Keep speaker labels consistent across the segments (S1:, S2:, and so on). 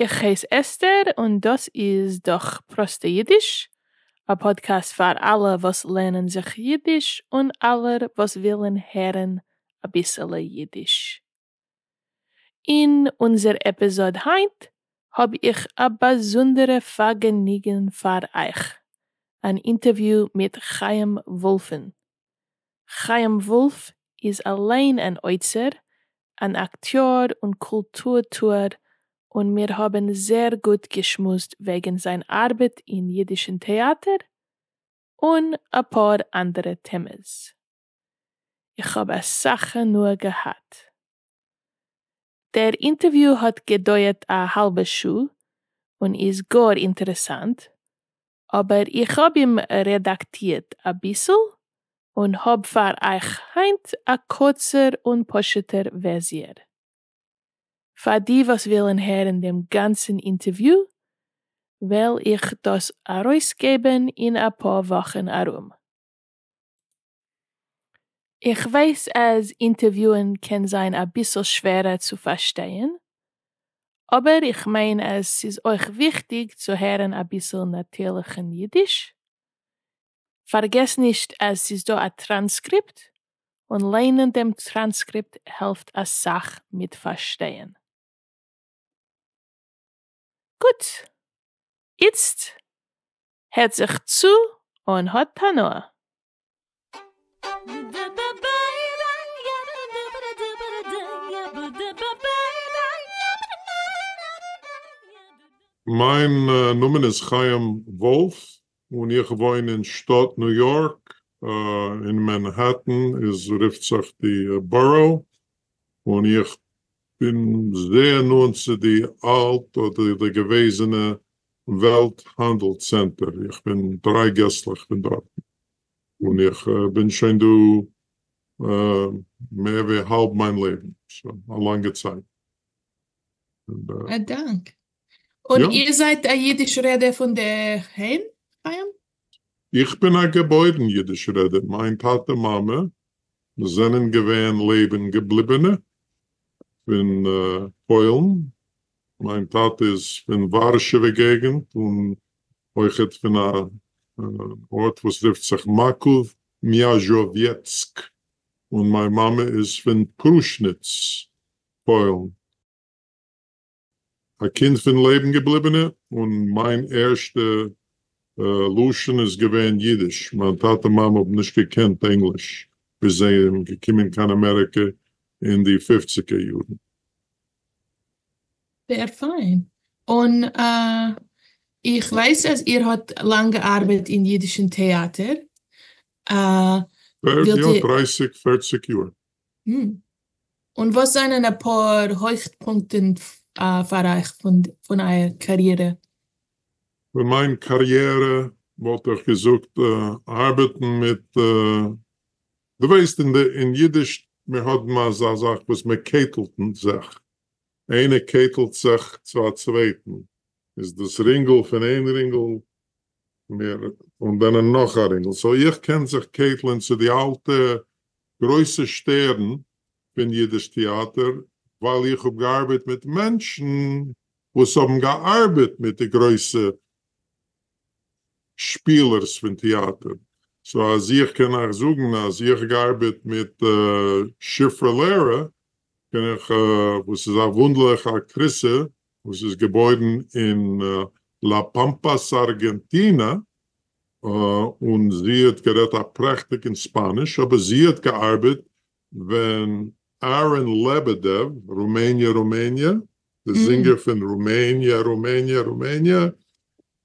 S1: איך הייס אסתר און דאס איז דאך פראסטע אידיש, א פאדקעסט פאר אלע וואס לערנען זיך אידיש און אלע וואס ווילן הערן אביסעלע אידיש. אין אונזער עפיזאד היינט האב איך א באזונדערע פארגעניגן פאר אייך, אן אינטערוויו מיט חיים וואלפן, חיים וואלף איז אליין אן אוצר, אן אקטיאר און קולטור-טוער און מיר האבן זעהר גוט געשמועסט וועגן זיין ארבעט אין אידישן טעאטער און אפאר אנדערע טעמעס. איך האב אסאך הנאה געהאט. דער אינטערוויו האט געדויערט א האלבע שעה און איז גאר אינטערעסאנט, אבער איך האב אים רעדאקטירט אביסל און האב פאר אייך היינט א קורצער און פשוט'ער ווערסיער. פאר די וואס ווילן הערן דעם גאנצן אינטערוויו וועל איך דאס ארויסגעבן אין אפאר וואכן ארום. איך ווייס אז אינטערוויוען קען זיין אביסל שווערער צו פארשטייען, אבער איך מיין אז ס'איז אויך וויכטיג צו הערן אביסל נאטירליכן אידיש. פארגעס נישט אז ס'איז דא א טראנסקריפט, און ליינען דעם טראנסקריפט העלפט אסאך מיט פארשטייען. גוט! איצט הערט זיך צו און האט
S2: הנאה. מיין נאמען איז חיים וואלף און איך וואוין אין שטאט ניו יארק, אין מענהעטן איז רופט זיך די בארא, און איך בין זייער נאנט צו די אלט אדער די געוועזענע וועלט האנדל צענטער, איך בין דריי געסלעך פון דארטן, און איך בין שוין דא מער ווי האלב מיין לעבן, סאו א לאנגע צייט. א דאנק. און איר זייט א אידיש רעדער פון דער היים? איך בין א געבוירן אידיש רעדער, מיין טאטע מאמע זענען געווען לעבן געבליבענע פון פוילן, מיין טאטע איז פון ווארשעווע געגענט און אויכעט פון א ארט וואס רופט זיך מאקאוו מיאזשאוויעצק, און מיין מאמע איז פון פרושניץ פוילן. א קינד פון לעבן געבליבענע, און מיין ערשטע לשון איז געווען אידיש, מיין טאטע מאמע האבן נישט געקענט ענגליש ביז זיי זענען געקומען קיין אמעריקע אין די פופציגער יארן. זייער פיין.
S1: און איך ווייס אז איר האט לאנג געארבעט אין אידישן טעאטער. יא,
S2: דרייסיג, פערציג יאר.
S1: און וואס זענען אפאר הויכט פונקטען פאר אייך פון אייער קאריערע? פון
S2: מיין קאריערע וואלט איך געזאגט ארבעטן מיט, דו ווייסט אין אידיש מיר האבן אזא זאך וואס מען קעטלט זיך, איינער קעטלט זיך צו א צווייטן, איז דאס רינגל פון איין רינגל מיר און דענען נאך א רינגל סאו איך קען זיך קעטלען צו די אלטע גרויסע שטערן פון אידיש טעאטער ווייל איך האב געארבעט מיט מענטשן וואס האבן געארבעט מיט די גרויסע שפילערס פון טעאטער סאו אז איך קען אייך זאגן אז איך געארבעט מיט שפרה לרה בין איך וואס איז א וואונדערליכע אקטריסע וואס איז געבוירן אין לא פאמפאס ארגענטינע, און זי האט גערעדט א פרעכטיגן ספאניש, אבער זי האט געארבעט ווען אהרן לעבעדעוו, רומעניע רומעניע, די זינגער פון רומעניע רומעניע רומעניע,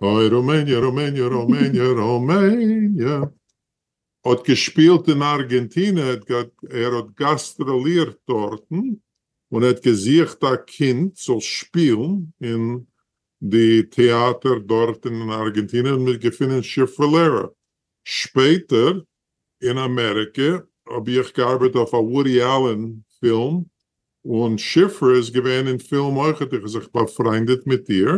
S2: אוי רומעניע רומעניע רומעניע רומעניע, האט געשפילט אין ארגענטינע, ער האט גאסטראלירט דארטן און ער האט געזוכט א קינד זאל שפילן אין די טעאטער דארט אין ארגענטינע און מ'האט געפונען שיפרלערע. שפעטער אין אמעריקע האב איך געארבעט אויף א וואדי אלען פילם און שיפרה איז געווען אין פילם אויכעט, איך האב זיך באפריינדעט מיט איר.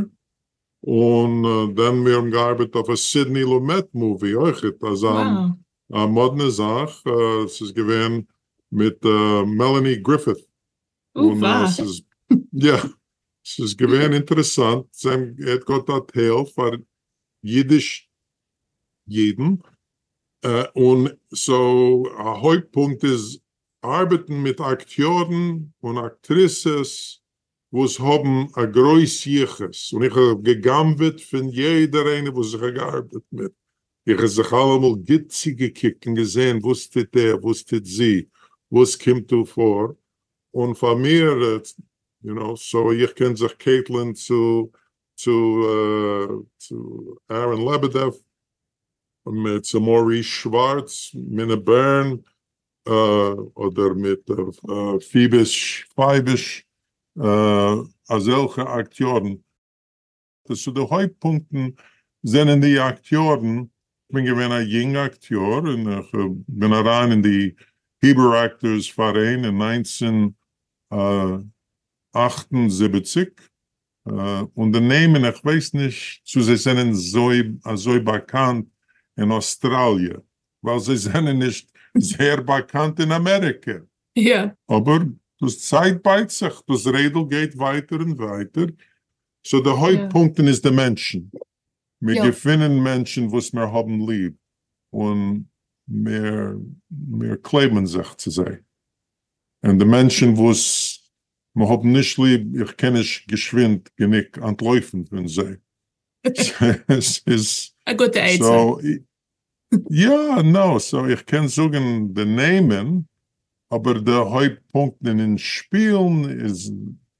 S2: און דען מיר האבן געארבעט אויף א סידני לומעט מאווי אויכעט אזא מאדנע זאך ס'איז געווען מיט מעלעני גריפיט און ס'איז יא ס'איז געווען אינטערעסאנט זיי האבן ער האט געהאט א טייל פאר אידיש אידן און סאו א הויפט פונקט איז ארבעטן מיט אקטיארן און אקטריסעס וואס האבן א גרויס יחוס און איך האב גע'גנב'עט פון יעדער איינער וואס איך האב געארבעט מיט, איך האב זיך אלעמאל גוט צוגעקוקט און געזען וואס טוט ער וואס טוט זי וואס קומט דא פאר, און פאר מיר יו נא סא איך קען זיך קעטלען צו צו אהרן לעבעדעף, צו מאוריס שווארץ, מינע בערן, אדער מיט פיבש פייבש אזעלכע אקטיארן. סאו די הויפט פונקטן זענען די אקטיארן. כ'בין געווען א יונג אקטיאר און כ'בין אריין אין די היברו אקטארס פאראיין אין נײַנצן אַכט און זיבעציק און די נעמען איך ווייס נישט צו זיי זענען אזוי באקאנט אין אסטראליע ווייל זיי זענען נישט זייער באקאנט אין אמעריקע, אבער
S1: דאס
S2: צייט בייט זיך, דאס רעדל גייט ווייטער און ווייטער, סאו די הויפט פונקטן איז די מענטשן, מיר געפינען מענטשן וואס מיר האבן ליב און מיר קלעבן זיך צו זיי, און די מענטשן וואס מ'האט נישט ליב, איך קען נישט געשווינד גענוג אנטלויפן פון זיי. א גוטע עצה. יא, נאו, סאו איך קען זאגן די נעמען, אבער די הויפט פונקטן אין שפילן איז,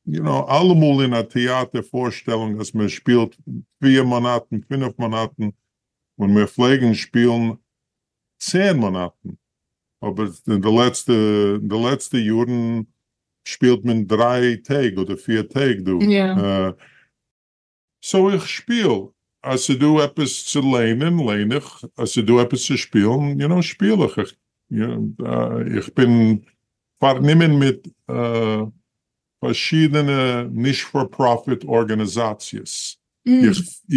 S2: יו נאו, אלעמאל אין א טעאטער פארשטעלונג אז מען שפילט פֿיר מאנאטן, פֿינף מאנאטן, און מיר פלעגן שפילן צען מאנאטן, אבער אין די לעצטע אין די לעצטע יארן שפילט מען דריי טעג אדער פיר טעג דא, סאו איך שפיל, אז ס'דא עפעס צו לערנען לערן איך, אז ס'דא עפעס צו שפילן יו נאו שפיל איך, איך איך בין פארנומען מיט פארשידענע נישט פאר פראפיט ארגאניזאציעס,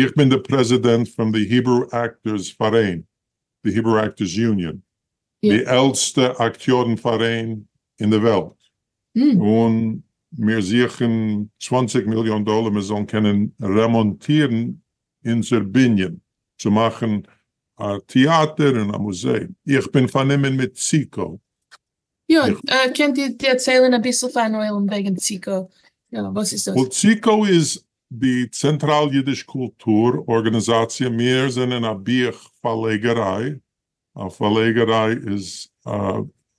S2: איך בין די פרעזידענט פון די היברו עקטערס פאראיין, די היברו אקטערס יוניאן, די עלטסטע אקטיארן פאראיין אין די וועלט, און מיר זוכן צוואַנציק מיליאן דאלער מיר זאלן קענען רעמאנטירן אונזער בנין צו מאכן א טיאטער און א מוזעאום, איך בין פארנומען מיט ציקו. יא, קענט איר דערציילן אביסל פארן עולם וועגן ציקו, וואס איז
S1: דאס? וועל ציקו איז
S2: די צענטראל אידיש קולטור ארגאניזאציע מיר זענען א בוך פארלעגעריי, א פארלעגעריי איז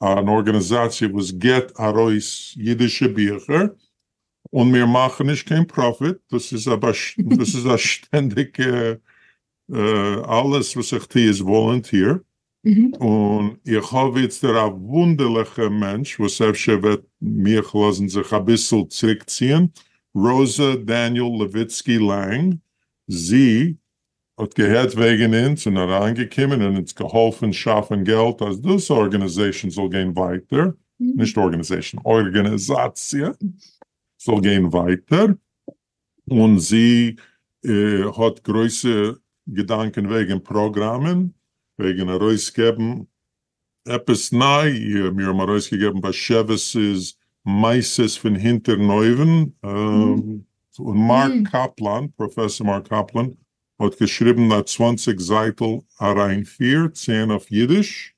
S2: אן ארגאניזאציע וואס געט ארויס אידישע ביכער און מיר מאכן נישט קיין פראפיט, דאס איז א שטענדיגע אלעס וואס איך טו איז וואלענטיר, און איך האב איצטער א וואונדערליכע מענטש וואס אפשר וועט מיך לאזן זיך אביסל צוריקציען, ראזא דעניעל לעוויצקי לאנג זי ע, האט געהערט וועגן אונז און אריינגעקומען און אונז געהאלפן שאפן געלט אז דאס ארגענעזעישן זאל גיין ווייטער, נישט ארגענעזעישן, ארגענעזאציע, זאל גיין ווייטער, און זי האט גרויסע געדאנקען וועגען פראגראמען, וועגען ארויס געבען עפעס ניי, מיר האבן ארויס געגעבען באשעוויס'ס מעשות פון הינטערן אויווען, און מארק קאפלאן, פראפעסאר מארק קאפלאן, האט געשריבען א צוואנציג זייטעל אריינפיר, צען אויף אידיש,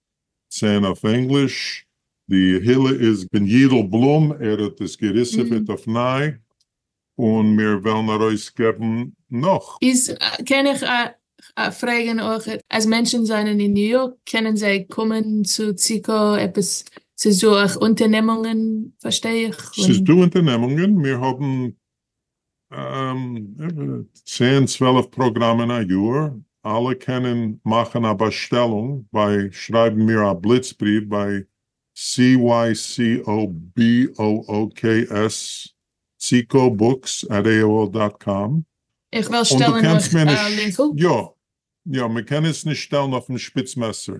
S2: צען אויף ענגליש, די הילע איז פון יידל בלום, ער האט עס געריסעפעט אויף ניי, און מיר וועלן ארויס געבן נאך. איז קען איך
S1: פרעגן אויך אז מענטשן זענען אין ניו יארק קענען זיי קומען צו ציקא עפעס ס'איז דא אויך אונטערנעמונגען פארשטיי איך און. ס'איז דא אונטערנעמונגען
S2: מיר האבן צען צוועלף פראגראמען א יאר אלע קענען מאכן א באשטעלונג ביי שרייבן מיר א בליץ בריוו ביי CYCOBOOKS ckobooks עט AOL דאט קאם איך וועל
S1: שטעלן אויך א לינקל. יא יא
S2: מען קען עס נישט שטעלן אויפן שפיץ מעסער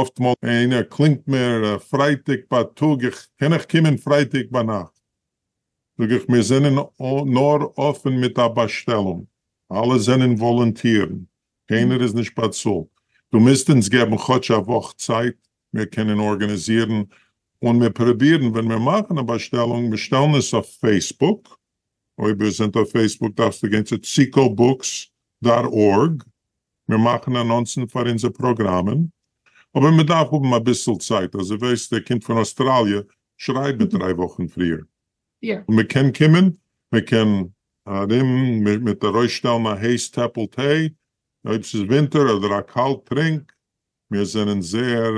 S2: אפט מאל איינער קלינגט מיר פרייטאג בייטאג איך קען איך קומען פרייטאג ביינאכט זאג איך מיר זענען נאר אפען מיט א באשטעלונג אלע זענען וואלונטירן קיינער איז נישט באצאלט דו מוזט אונז געבן כאטש א וואך צייט מיר קענען ארגאניזירן און מיר פרובירן ווען מיר מאכן א באשטעלונג מיר שטעלן עס אויף פעיסבוק, אויב איר זענט אויף פעיסבוק דארפסטו גיין צו ציקאו בוקס דאט ארג, מיר מאכן אנאנסן פאר אונזער פראגראמען, אבער מען דארף האבן אביסל צייט, אז דו וועסט ער קומט פון אויסטראליע שרייב מיט דריי וואכן פריער, און מען קען
S1: קומען,
S2: מען קען ארום מיט ארויסשטעלן א הייס טעפל טיי, אויב ס'איז ווינטער אדער א קאלד טרינק, מיר זענען זייער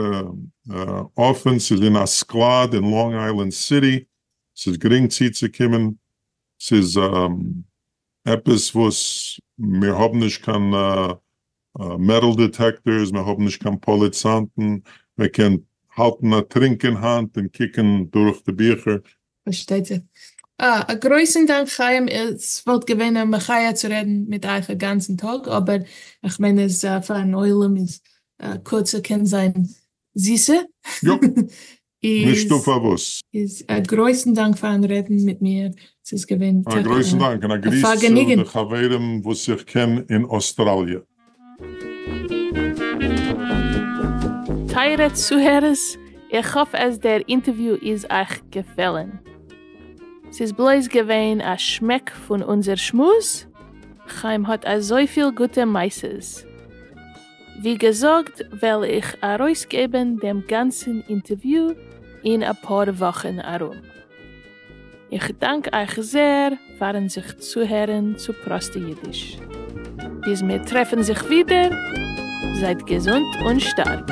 S2: אפען, ס'איז אין א סקלאד אין לאנג איילענד סיטי, ס'איז גרינג צוצוקומען, ס'איז עפעס וואס מיר האבן נישט קיין מעטאל דיטעקטארס, מיר האבן נישט קיין פאליצאנטן, מען קען האלטן א טרינק אין האנט און קוקן דורך די ביכער, פארשטייט
S1: זיך. אה, א גרויסן דאנק חיים, עס וואלט געווען א מחיה צו רעדן מיט אייך א גאנצן טאג, אבער איך מיין אז פארן עולם איז קורצע קען זיין זיסע. יאפ,
S2: נישטא פארוואס. איז א גרויסן
S1: דאנק פארן רעדן מיט מיר, ס'איז געווען טאקע א פארגעניגן. א גרויסן דאנק און א
S2: גריס צו די חברים וואס איך קען אין אוסטראליע.
S1: טייערע צוהערערס, איך האף אז דער אינטערוויו איז אייך געפעלן. ס'איז בלויז געווען א שמעק פון אונזער שמועס, חיים האט אזויפיל גוטע מעשה'ס. ווי געזאגט וועל איך ארויסגעבן דעם גאנצן אינטערוויו אין אפאר וואכן ארום. איך דאנק אייך זעהר פארן זיך צוהערן צו פראסטע אידיש. ביז מיר טרעפן זיך ווידער, זייט געזונט און שטארק.